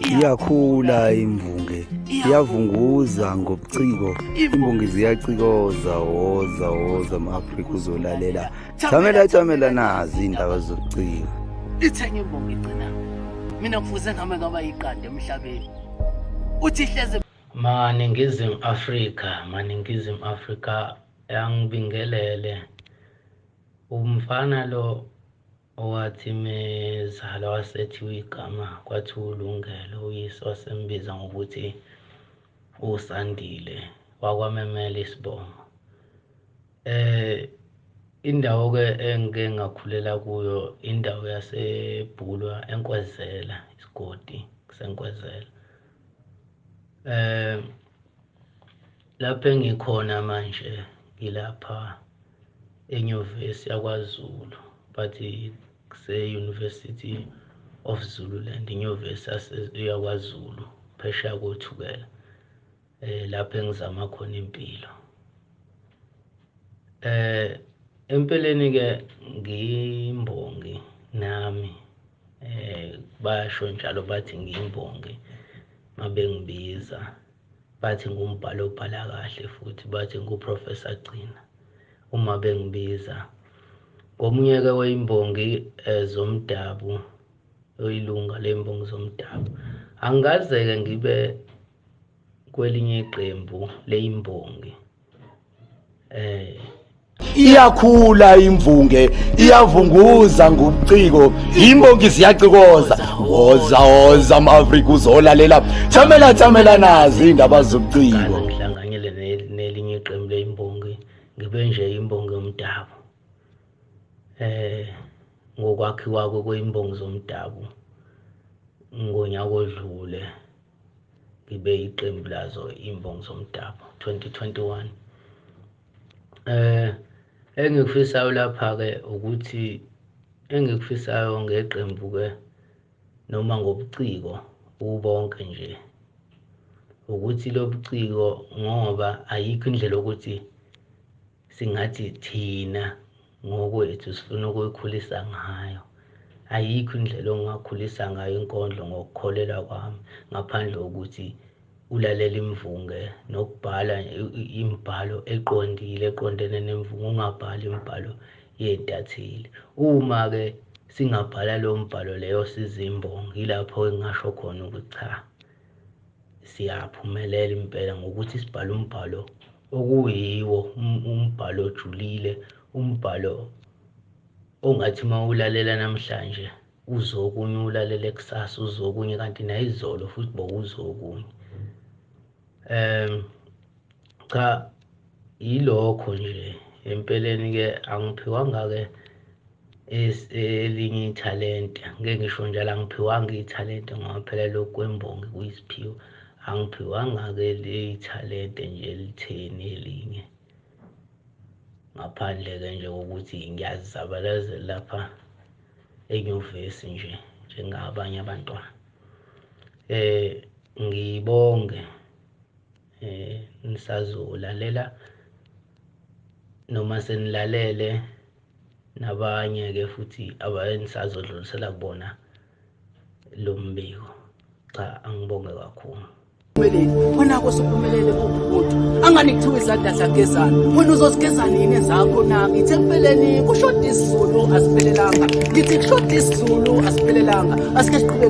iyakhula imbunge iyavunguza ngobuciko imbunge ziyacikoza woza woza ma-afrika uzolalela jamela jamela nazi iy'ndaba zobuciko ithenge imbongi igcina mina kufuze ngame ngaba yiqanda emhlabeni uthi hleze maningizimu afrika maningizimu afrika yangibingelele umfana lo Owathi mezalwa wasethiwa igama kwathiwa uLungelo, uyise wasembiza ngokuthi uSandile wakwamemela isibongo. Eh indawo ke engike ngakhulela kuyo indawo yaseBhulwa eNkwezela, isigodi kuseNkwezela. Eh Lapho engikhona manje ngilapha enyuvesi yakwaZulu but kuse-University of Zululand inyuvesi yakwaZulu phesheya kothukela eh lapho engizama khona impilo eh empeleni ke ngimbongi nami eh basho njalo bathi ngimbongi mabengibiza Bathi ngumbhali obhala kahle futhi bathi nguProfessor Gcina uma bengibiza. Ngomunye-ke weyimbongi eh, zomdabu oyilunga leyimbongi zomdabu. Angikaze-ke ngibe kwelinye iqembu leyimbongi eh iyakhula imvunge iyavunguza ngobuciko imbongi ziyacikoza woza woza ama-afrika uzolalela thamela thamela nazi iy'ndaba zobuciko ngihlanganyele nelinye iqembu leyimbongi ngibe nje imbongi yomdabu eh ngokwakhiwa kweyimbongi zomdabu ngonyaka odlule libe iqembu lazo imbongi zomdabu 2021 eh engikufisayo lapha ke ukuthi engikufisayo ngeqembu ke noma ngobuciko ubonke nje ukuthi lobuciko ngoba ayikho indlela ukuthi singathi thina ngokwethu sifuna ukuyikhulisa ngayo. Ayikho indlela ongakhulisa ngayo inkondlo ngokukholelwa kwami ngaphandle kokuthi ulalela imvunge nokubhala imibhalo eqondile eqondene nemvunge ungabhali imibhalo yeentatheli uma-ke singabhala lowo mbhalo leyo sizimbongi yilapho engingasho khona ukuthi cha siyaphumelela impela ngokuthi sibhale umbhalo okuyiwo um, umbhalo ojulile umbhalo ongathi uma ulalela namhlanje uzokunye ulalele kusasa uzokunye kanti nayizolo futhi bowuzokunye um cha yilokho nje empeleni ke angiphiwanga ke elinye ithalente ngeke ngisho njalo angiphiwanga ithalente ngoba phela lokhu kwembongi kuyisiphiwo angiphiwanga ke leyithalente nje elitheni elinye ngaphandle ke nje kokuthi ngiyazizabalazela lapha enyuvesi nje njengabanye abantwana eh ngibonge eh ngisazolalela noma senilalele nabanye ke futhi abayenisazodlulisela kubona lo mbiko cha angibonge kakhulu khona-ko siphumelele kuwumuntu angani kuthiwa izandla zagezana wena uzozigezana yini ezakho na ngithe ekupheleni kushoda isizulu asiphelelanga ngithi kushoda isizulu asiphelelanga asike siqhubeke